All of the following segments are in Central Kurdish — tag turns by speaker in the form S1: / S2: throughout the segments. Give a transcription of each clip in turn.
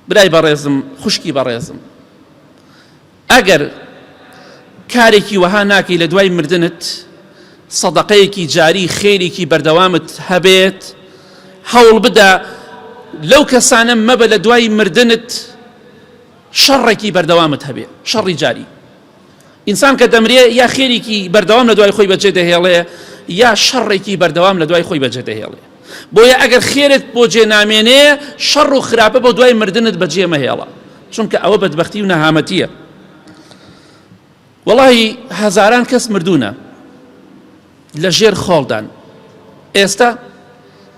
S1: برای بەڕێزم خوشکی بەڕێزم ئەگەر کارێکی وەها ناکەی لە دوای مردنت سەدەقەیەکی جاری خێریکی بەردەوامت هەبێت هەوڵ بدە لەو کەسانە مەبە لە دوای مردنت شەڕێکی بەردەوامت هەبێ شەڕی جاری ئینسان کە دەمرێ یا خێریکی بەردەوام لە دوای خۆی بەجێ دەهێڵێ یا شەڕێکی بەردەوام لە دوای خۆی بەجێ دەهێڵێ بۆیە ئەگەر خێرت بۆ جێ نامێنێ شەڕ و خراپە بۆ دوای مردنت بەجێ مەهێڵە چونکە ئەوە بەدبختی و نەهامەتیە وەڵی هەزاران کەس مردوونە لە ژێر خۆڵدان ئێستا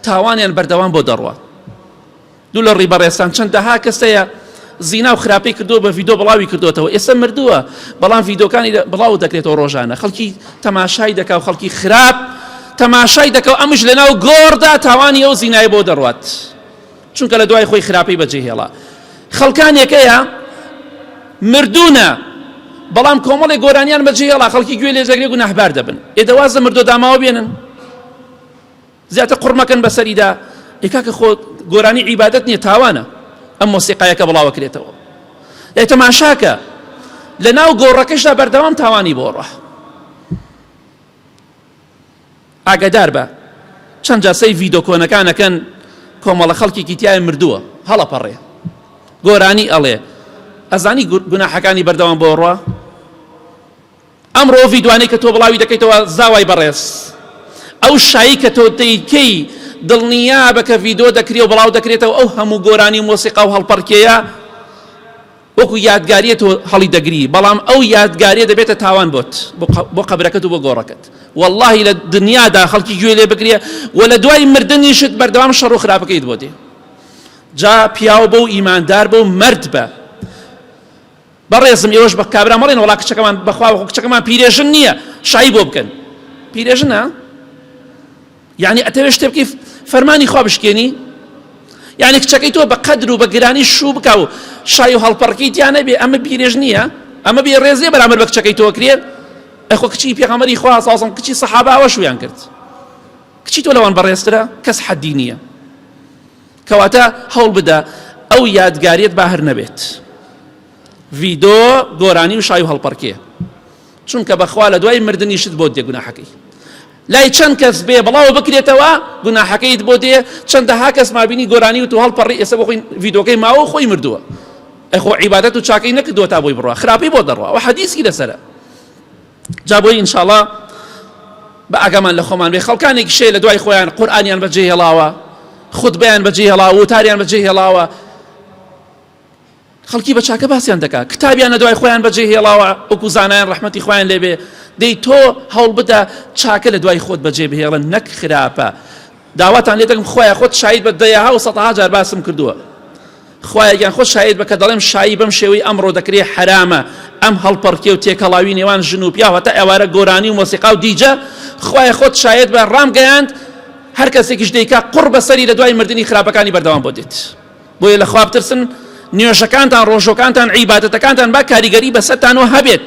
S1: تاوانیان بەردەوام بۆ دەڕوە دوو لە ڕیبەڕێزتان چەندەها کەس هەیە زینا و خراپەی کردو بە ڤیدۆ بڵاوی کردوێتەوە ئێستا مردووە بەڵام ڤیدۆکانی بڵاو دەکرێتەوە ڕۆژانە خەڵکی تەماشای دەکا و خەڵکی خراپ تەماشای دەکەو ئەمش لەناو گۆڕدا تاوانی ئەو زینای بۆ دەڕوات چونکە لە دوای خۆی خراپەی بەجێ هێڵا خەڵکانێکەیە مردونە بەڵام کۆمەڵی گۆرانیان بەجێ هێڵا خەڵکی گوێ لێ زەگرێک و نەحبار دەبن ئێدەوازە مردۆ داماوە بێنن زیاتر قڕ مەکەن بەسەریدا ئەی کاکە خۆ گۆرانی عیبادەت نییە تاوانە ئەم مۆسیقایەکە بڵاوە کرێتەوە ئەی تەماشاکە لە ناو گۆڕەکەشدا بەردەوام تاوانی بۆ ڕە ئاگادار بە چەند جاسەی ڤیدۆ کۆنەکانەکەن کۆمەڵە خەڵکێکی تای مردووە هەڵەپەڕێ گۆرانی ئەڵێ ئەزانی گوناحەکانی بەردەوام بۆ ڕە ئەمڕۆ ڤیدوانەی کە تۆ بڵاوی دەکەیتەوە زاوای بەڕێز ئەو شایی کە تۆ دەیکەی دڵنیابە کە ڤیدۆ دەکرێ و بڵاو دەکرێتەوە ئەو هەموو گۆرانی و مۆسیقا و هەڵپەڕکێیە وەکو یادگاریە تۆ هەڵی دەگری بەڵام ئەو یادگاریە دەبێتە تاوان بۆت بۆ قەبرەکەت و بۆ گۆڕەکەت واللهی لە دنیادا خەڵکی گوێ لێ بگرێ و لە دوای مردنیشت بەردەوام شەڕ و خراپەکەیت بۆ دێ جا پیاو بە و ئیماندار بە و مەرد بە بەڕێزم ئێوەش بە کابرا مەڵێن وەڵا کچەکەمان بەخوا وەخۆ کچەکەمان پیرێژن نییە شای بۆ بکەن پیرێژنە یعنی ئەتەوێ شتێ بکەی فەرمانی خوا بشکێنی یعنی کچەکەی تۆ بە قەدر و بە گرانی شوو بکە و شای و هەڵپەڕکی تیانە بێ ئەمە پیرێژ نییە ئەمە بێ ڕێزێ بەرامەر بە کچەکەی تۆ کرێ ئەخۆ کچی پێغەمەری خوا سازم کچی سەحاباوە شویان کرد کچی تۆ لەوان بەڕێزترە کەس حەدی نییە کەواتە هەوڵبدە ئەو یادگاریت با هەر نەبێت ڤیدۆ گۆرانی و شای و هەڵپەڕکێ چونکە بەخوا لە دوای مردنی شت بۆ دێگوناحەکەی لای چەند کەس بێ بڵاو بکرێتەوە گوناحەکەیت بۆ دێ چەندەها کەس مابینی گۆرانی و تو هەڵپەڕی ئێستا بخۆین ڤیدۆکەی ماوە و خۆی مردووە ئەخۆ عیبادەت و چاکەی نەکردووە تا بۆی بڕە خراپی بۆ دەڕوە و حەدیسی لەسرە جا بۆیی انشااللە بە ئاگامان لە خۆمان بێ خەڵکانێکیش هەیە لە دوای خۆیان قورئانیان بە جێ هێڵاوە خوتبەیان بە جێ هێڵاوە وتاریان بە جێ هێڵاوە خەڵکی بە چاکە باسیان دەکات کتابیان لە دوای خۆیان بە جێ هێڵاوە وەکو زانایان ڕەحمەتی خۆیان لێبێ دەی تۆ هەوڵ بدە چاکە لە دوای خۆت بەجێ بهێڵن نەک خراپە داواتان لێ دەکەم خۆیان خۆت شاید بە دەیەها و سەدەها جار باسم کردووە خوایە گیان خۆت شاهید بە کە دەڵێم شایی بەم شێوەی ئەمڕۆ دەکرێ حەرامە ئەم هەڵپەڕکێ و تێکەڵاوی نێوان ژن و پیاو هەتا ئێوارە گۆرانی و مۆسیقا و دیجە خوایە خۆت شاید بە ڕام گەیاند هەر کەسێکیش دەیکا قڕ بەسەری لە دوای مردنی خراپەکانی بەردەوام بۆ دێت بۆیە لە خواب ترسن نوێژەکانتان ڕۆژۆکانتان عیباەتەکانتان با کاریگەری بەسەتانەوە هەبێت